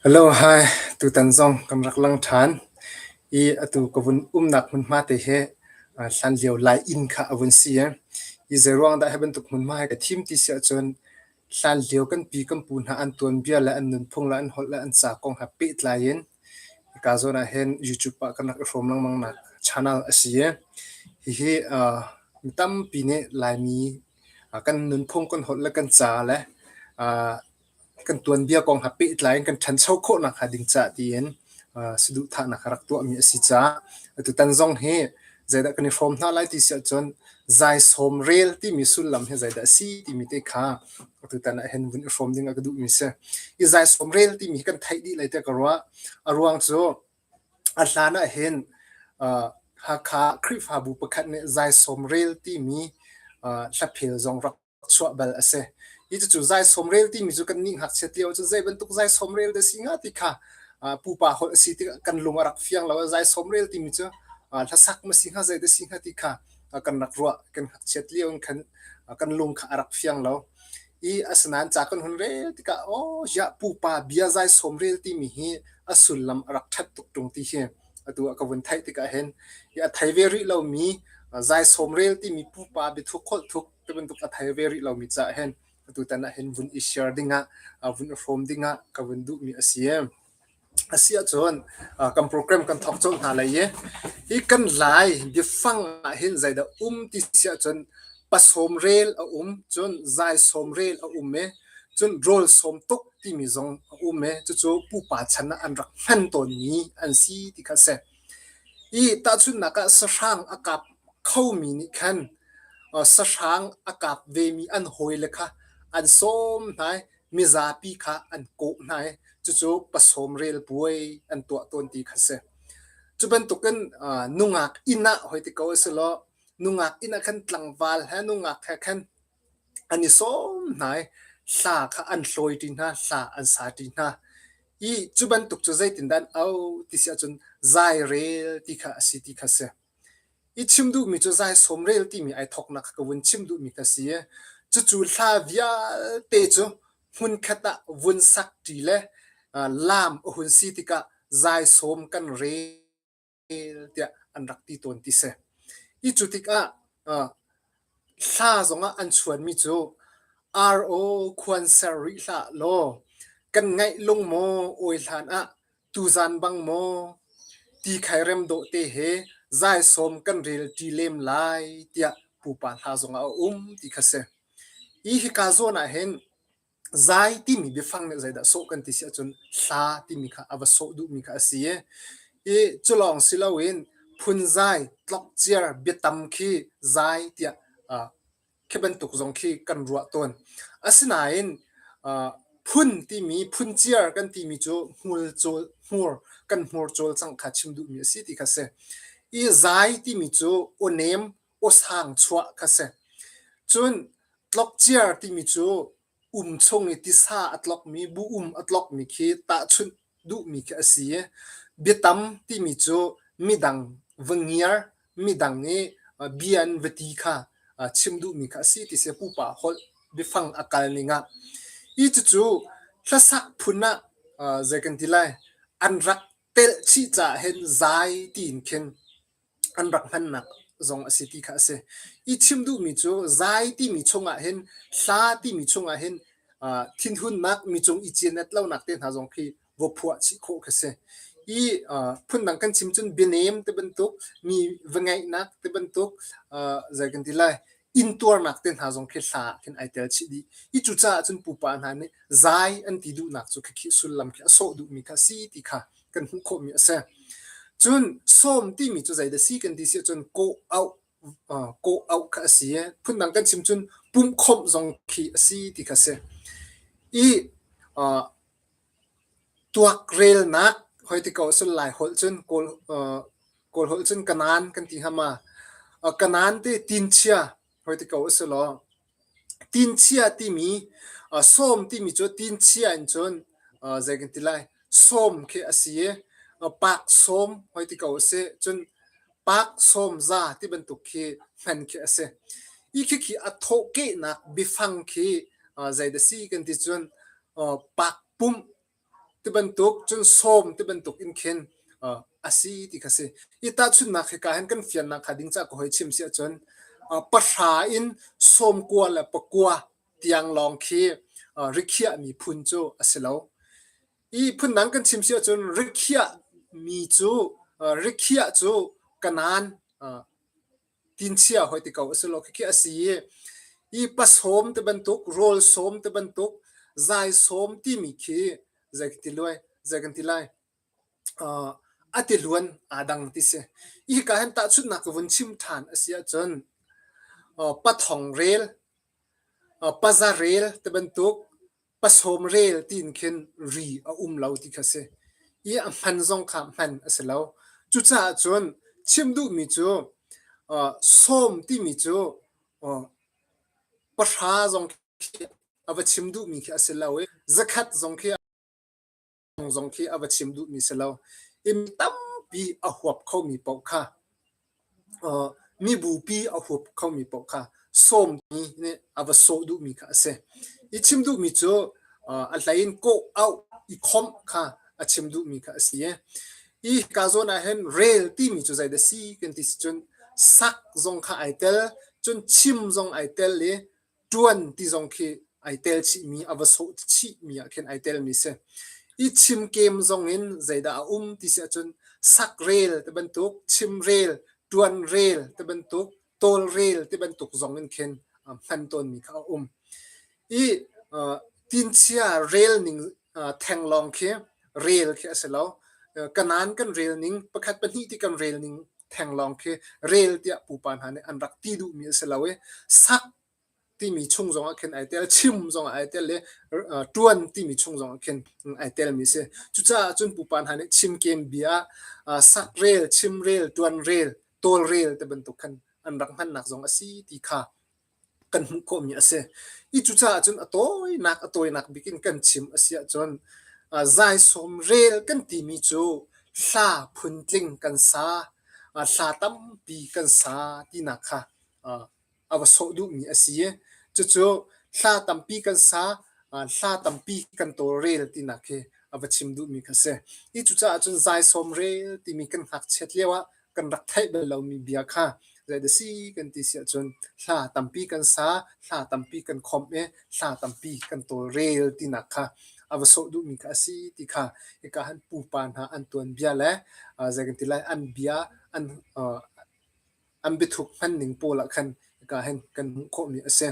Hi tutan zong kan rak lang ṭhan i atu ka vun umnak hmunhma te hi hlanlio Lai inn kha a vun si i zeiruang dah hi bantuk hmunhma hi ka thim ti si ahcun Hlanlio kan pi kan pu hna an tuanbia le an nunphung le an holh le an ca kong he pehtlai in hika zawn ah hin YouTube ah kan rak i hrawm lengmang nak channel a si i hihi uh, mi tampi nih Laimi uh, kan nunphung, kan holh le kan ca le uh, kan tuanbia kong he pehtlai in kan ṭhancho khawh nakhnga ding ca tiin saduhthahnak a rak tuahmi a si caah atutan zong hi zeidah kan i hrawm hna lai ti si ahcun zai sawm rel timi sullam hi zeidah a si timi te kha atutan ah hin vun i hrawm ding a ka duhmi si i zai sawm rel timi kan theih dih lai te ka ruah a ruang cu a hlan ah hin Hakha Khrihfabu pakhat nih zai sawm rel timi hlaphel zong rak chuah bal a si. Hi cucu zaisawm rel timi cu kan nih ngakchiat lio cu zei bantuk zaisawm rel dah si hnga ti kha pupa holh a si ti kan lung a rak fiang lo. Zaisawm rel timi cu hlasak ma si hnga zei dah si hnga ti kha kan rak ruah kan ngakchiat lio in khan kan lung kha a rak fiang lo. I asinain ca kan hun rel tikah aw ya pupa bia zaisawm rel timi hi a sullam a rak ṭhat tuk ṭung ti hi atu a ka vun theih tikah hin i a thei ve rih lomi zaisawm rel timi pupa biathuk holh thuk tibantuk a thei ve rih lomi caah hin tutan ah hin vun i share dingah vun i hrawm dingah ka vun duhmi a si a si ahcun kan program kan thok colh hna lai i hi kan lai biafang ah hin zeidah um ti si ahcun pasawm rel a um cun zai sawm rel a um e cun rol sawm tuk timi zong a um e cucu pupa chan ah an rak hman tawnmi an si ti kha si I tahchunhnak ah sahrang a kap khomi nih khan sahrang a kap vemi an hawile kha an sawm hna i mizapi kha an kawh hna i cucu pasawm relpuai an tuah tawn ti kha a si. Cu bantukin nungak inn ah hoi ti ko a si law nungak inn ah khan tlangval he nungak he khan an i sawm hna i hla kha an hlawi ṭi hna hla an sa ṭi hna i cu bantuk cu zeitindah an auh ti si ahcun zai rel ti kha a si ti kha a si i chim duhmi cu zai sawm rel timi ai thawknak kha ka vun chim duhmi kha a si i cucu hla vialte cu hmunkhat ah vun sak ṭi le lam a hun si tikah zai sawm kan rel tiah an rak ti tawn ti si. Hi cu tikah hla zongah an chuanmi cu RO khuan ser rih hlah law kan ngaih lung maw awi hlan ah tuzan bang maw ti khairem dawh te he zai som kan rel ti lem lai tiah pupa hla zongah a um ti kha si. Hi hi ka zawn ah hin Zai timi biafang nih zeidah sawh kan ti si ahcun hla timi kha a va sawh duhmi kha a si i, i culawng si loin phunzai, tlokciar, biatam khi zai tiah uh, khi bantuk zong khi kan ruah tawn. Asinain uh, phun timi, phunciar kan timi cu hmur cawl, hmur, kan hmur cawl cang kha chim duhmi a si ti kha si. I zai timi cu awnem, osang chuah kha si cun tlokciar timi cu um chung i tisa a tlokmi bu um a tlokmi khi tahchunh duhmi khi a si i biatam timi cu midang va ngiar midang i bian vati kha chim duhmi kha a si ti si pupa holh biafang a kal ningah i cucu hlasak phun ah zei kan ti lai an rak telhchih caah hin zai tiin khin an rak hmannak zong a si ti kha a si. I chim duhmi cu zai timi chungah hin hla timi chungah hin uh, thinhunnak mi cung i cianet lonak te hna zong khi va phuah chih khawh kha si. I uh, phundang kan chim cun bianem te bantuk mi va ngaihnak te bantuk uh, zei kan ti lai intuarnak te hna zong khi hla ah khin ai tel chih dih i cucaah cun pupa hna nih zai an ti duhnak cu khikhi sullam khi a sawh duhmi kha a si ti kha kan hmuh khawhmi a si cun sawm timi cu zei dah si kan ti si cun kawh auh kawh auh kha a si phundang kan chim cun pumh khomh zong khi a si ti kha si i Tuak relnak hoi ti ko a si lai holh cun kawl kawl holh cun kanan kan ti hnga ma. Kanan ti tinchia hoi ti ko a si law tinchia timi sawm timi cu tinchia in cun zei kan ti lai sawm khi a si i pak sawm hoi ti ko a si. Cun Park sawmza ti bantuk khi hman khi a si. I khikhi a thawhkehnak biafang khi uh, zei da si kan ti cun uh, park pumh ti bantuk cun sawm ti bantuk in khin uh, a si ti kha si. I tahchunnak hi ka hen kan fiannak kha ding ca ko hoi chim si ahcun uh, pahra in sawmkua le pakua tiang lawng khi uh, rikhiah mi phun cu a si lo. Ihphun dang kan chim si ahcun rikhiah mi cu uh, rikhiah cu kanan uh, tinchia hoi ti ko a si lo khi a si i pasawm te bantuk rawl sawm te bantuk zai sawm timi khi zei ti luai zei kan ti lai uh, a ti luan aa dang ti si i ka hen ta chutnak vun chim than a si ahcun uh, pathong rel uh, paza rel te bantuk Pasawm rel tiin khin ri a um lo ti kha si. I a hman zong kha hman a si lo. Cucaah cun chim duhmi cu uh, sawm timi cu uh, pahra zong khi a va chim duhmi khi a si lo i zakhat zong khi thawng zong khi a va chim duhmi si lo inn tampi a huap khomi paoh kha uh, mi bupi a huap khomi paoh kha sawmmi nih a va sawh duhmi kha a si i chim duhmi cu uh, a hlein kawh au i khomh kha a chim duhmi kha a si i ka zawn ah hin rel timi cu zeidah si kan ti si cun sak zong kha ai tel cun chim zong ai tel i ṭuan ti zong khi ai tel chihmi a va sawh chihmi ah khin ai telmi si. I chimkem zong in zeidah a um ti si ahcun sak rel ti bantuk, chim rel, ṭuan rel ti bantuk, tawl rel ti bantuk zong in khin hman tawnmi kha a um. I tinchia relning theng lawng khi rel khi a si lo. Kanan kan relning, pakhat pahnih ti kan relning Thenglawng khi rel tiah pupa hna nih an rak ti duhmi a si lo i sak timi chung zongah khin ai tel, chim zongah ai tel le ṭuan timi chung zongah khin ai telmi si. Cucaah cun pupa hna nih chimkem bia, sak rel, chim rel, ṭuan rel, tawl rel te bantuk khan an rak hmannak zong a si ti kha kan hmuh khawhmi a si. I cucaah cun a tawinak a tawinak bik in kan chim a si ahcun zaisawm rel kan timi cu hla phuntling kan sa, hla tampi kan sa tinak kha a va sawh duhmi a si i cucu hla tampi kan sa, hla tampi kan tawlrel tinak hi a va chim duhmi kha a si. Hi cucaah cun zaisawm rel timi kan ngakchiat lio ah kan rak theih bal lomi bia kha zei da si kan ti si ahcun hla tampi kan sa, hla tampi kan khawmh i hla tampi kan tawlrel tinak kha a va sawh duhmi kha a si ti kha hika han pupa hna an tuanbia le uh, zei kan ti lai an bia an uh, an bithuk hmanning pawl ah khan ka hen kan hmuh khawhmi a si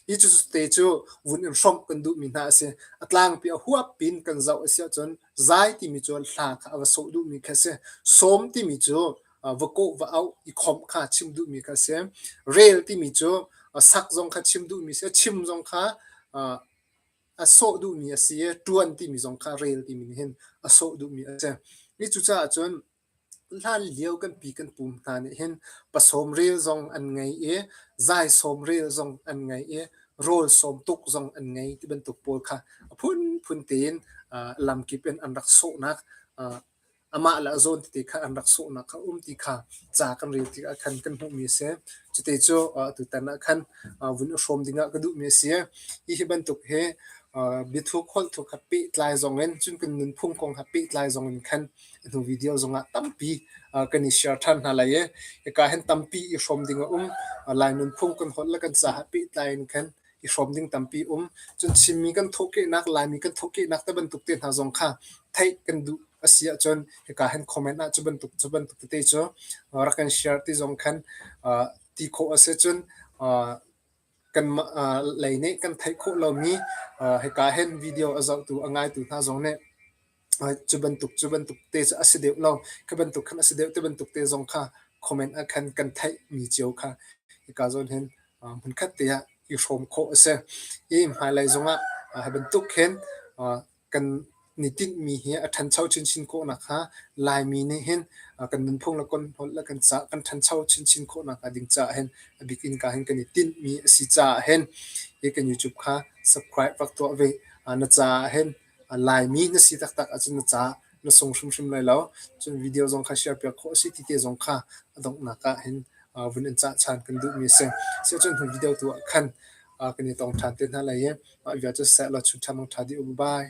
hi cu te cu vun in hrawmh kan duhmi hna a si a tlang pi a huap pin kan zoh a si ahcun Zai timi cu hla kha a va sawh duhmi kha a si. Sawm timi cu va kawh va auh i khomh kha chim duhmi kha a si. Rel timi cu sak zong kha chim duhmi a si. Chim zong kha a sawh duhmi a si i ṭuan timi zong kha rel timi nih hin a sawh duhmi a si. Hi cucaah cun Hlanlio kan pi kan pu hna nih hin pasawm rel zong an ngei i zai sawm rel zong an ngei i rawl sawm tuk zong an ngei ti bantuk pawl kha a phunphun tein lamkip in an rak sawhnak amah le a zawn tete kha an rak sawhnak kha a um ti kha ca kan rel tikah khan kan hmuhmi a si. Cute cu tutan ah khan vun i hrawm dingah ka duhmi a si. Hi hi bantuk hi biathuk holh thuk ha pehtlai zong in cun kan nunphung kong ha pehtlai zong in khan nu video zongah tampi kan i share ṭhan hna lai i hika hin tampi i hrawm ding a um lai nunphung kan holh le kan ca ha pehtlai in khan i hrawm ding tampi um cun Chinmi kan thawhkehnak Laimi kan thawhkehnak te bantuk te hna zong kha theih kan duh asi ahcun hika hen comment ah cu bantuk cu bantuk tete cu rak kan share ti zong khan ti khawh ase cun kanmah lei nih kan theih khawh lomi hika hin video a zohtu a ngaitu hna zong nih cu bantuk cu bantuk te cu a si deuh lo khi bantuk khan a si deuh ti bantuk te zong kha comment ah khan kan theihmi cio kha hika zawn hin hmunkhat te ah i hrawm khawh a si i hmailei zongah hi bantuk hin kan ni tinhmi hi a ṭhancho chinchin khawh nakhnga Laimi nih hin kan nunphung le kan holh le kan ca kan ṭhancho chinchin khawh nakhnga ding caah hin a bik innka hin kan i tinhmi a si caah hin hi kan YouTube kha subscribe rak tuah ve. na caah hin Laimi na si taktak ahcun na caah na sung hrimhrim lai lo. Cun video zong kha share piak khawh a si ti te zong kha a donghnak ah hin vun in cah ṭhan kan duhmi a si. Sicun hnu video tu ah khan kan i tong ṭhan te hna lai i mah vialte cu seh law chun ṭha mong ṭha dih u. Bye.